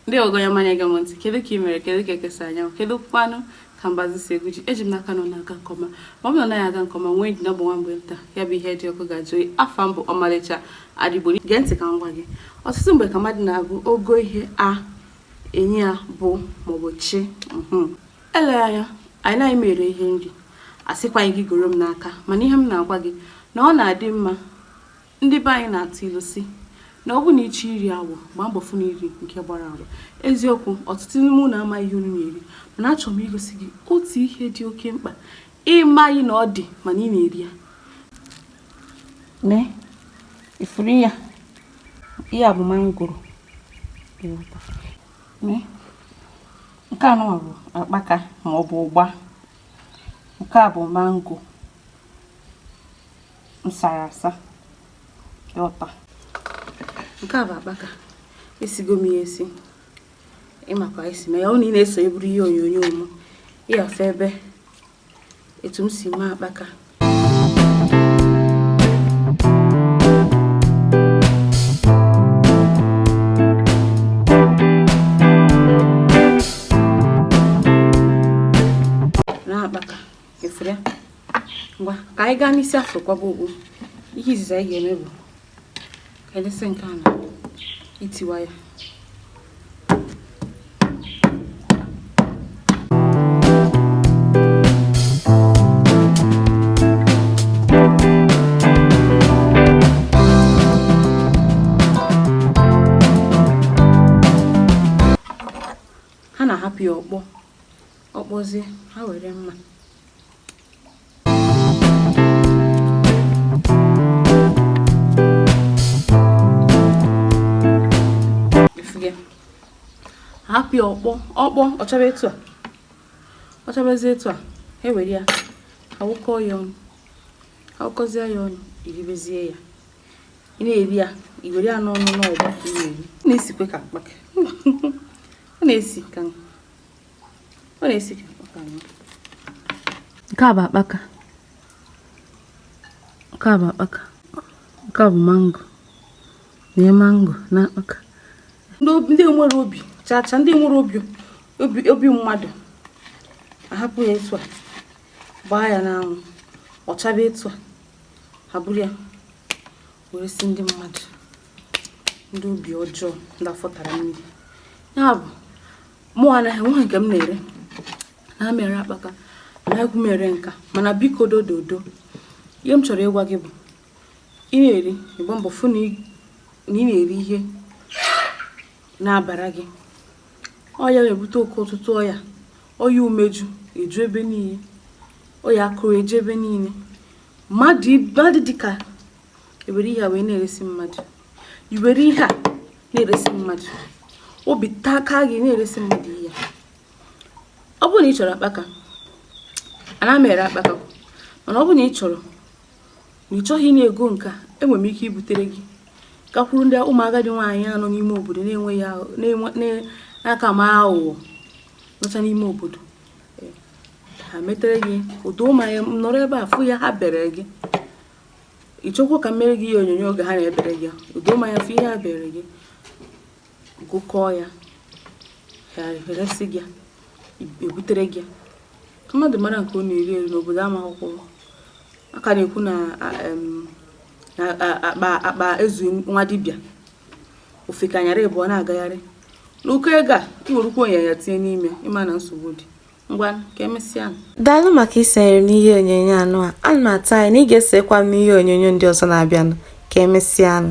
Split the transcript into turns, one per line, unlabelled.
ndị ogonye ọma na-ege m ntị kedu ka ị mere kedu ka eke si anya anwụ kedu kwanụ ka mbazụ si egwu ji eji m n'aka na ọ na-aga nke ọma ma ọ bụ na ọ naghị aga nke ọma nwee ndidi na ọ bụ nwa mgbe nta ya bụ ihe dị ọkụ ga-ajụ oyi afa m bụ ọmalịcha Ada Igbo gee ntị ka m gwa gị ọtụtụ mgbe ka mmadụ na-agụ ogo ihe a enye ya bụ maọbụ chi mhm. eleghị anya anaghị m ere ihe nri asịkwaghị gị goro m n'aka mana ihe m na-agwa gị na ọ na-adị mma Ndị be anyị na-atụ ilu si na ọ bụrụ na ị chọọ iri awọ gbaa mbọ fụ na i riri nke gbara agba eziokwu ọtụtụ n'ime unu amaghị ihe unu na-eri mana achọrọ m igosi gị otu ihe dị oke mkpa ị maghị na ọ dị mana ị na-eri ya nee ị fụrụ ya ihe a bụ mangoro nke a nụwa bụ akpaka ma ọ bụ ụgba nke a bụ mango m sara asa etu a nke a bụ akpaka esigo m ya esi ị ma ka e si eme ya ọ na ị na-eso eburu ihe onyonyo m ị ya-afụ ebe etu m si mee akpaka ị fụrụ ya ngwa ka anyị gaa n'isi afụ kwaba okpu ihe izizi anyị ga-eme bụ ka anyị lesie nke a na-etiwa ya ọ kpọzie ha were mma hapụ ya ọkpọ ọkpọ ọ chaba etu a ọ chabazie etu a e were ya awụkọ ya ọnụ awụkọzie ya ọnụ i ribezie ya ị na-eri ya i were ya n'ọnụ na ụgba ka ị na-eri na-esikwe ka akpaka ọ na-esi ka ọ na-esi ka akpaka nwa nke a bụ akpaka nke a bụ akpaka nke a bụ mango na mango na akpaka ndị enwerọ obi chacha ndị enwerọ obi mmadụ ahapụ ya etu a gbaa ya n'anwụ ọ chaba etu a ha buru ya wee resi ndị mmadụ ndị obi ọjọọ ndị afọ tara mmiri ya bụ mụ anaghị nwa nke m na-ere ana m ere akpaka anaghịkwu m ere nke a mana biko dododo ihe m chọrọ ịgwa gị bụ ị na-eri ị gbaa mbọ fụ na ị na-eri ihe na-abara gị ọya na-ebute oke ọtụtụ ọya ọya umeju eju ebe niile ọya akụrụ eju ebe niile mmadụ dịka ewere ihe a wee na-eresi mmadụ i were ihe a na-eresi mmadụ obi taa aka gị na-eresi mmadụ ihe ọ bụrụ na ị chọrọ akpaka ana m ere akpaka mana ọ bụrụ na ị chọrọ na ị chọghị na-ego nke a enwere m ike ibutere gị gakwuru ndị ụmụ agadi nwaanyị nọ n'ime obodo na-enweghị aka ma aghụghọ nọcha n'ime obodo ha metere gị ụdị mụwa nọrọ ebe a fụ ya ha bere gị ị chọkwa ka m meere gị ihe onyonyo oge ha na-ebere gị udo ma ya fụ ihe ha bere gị gụkọọ ya ha eresị gị ebutere gị ka mmadụ mara nke ọ na-eri eri n'obodo a maka okwu a ka na-ekwu na akpa ezu nwa dibịa ofeke anyara ịbụọ na-agagharị n'ụkọ ego a ị werukwa ọya tinye n'ime ị ma na nsogbu dị ngwa ka emesịa daalụ
maka isonyere m n'ihe onyonyo anụ a ana m atụ anya na ị ga-esokwa m n'ihe onyonyo ndị ọzọ na-abịanụ ka emesịanụ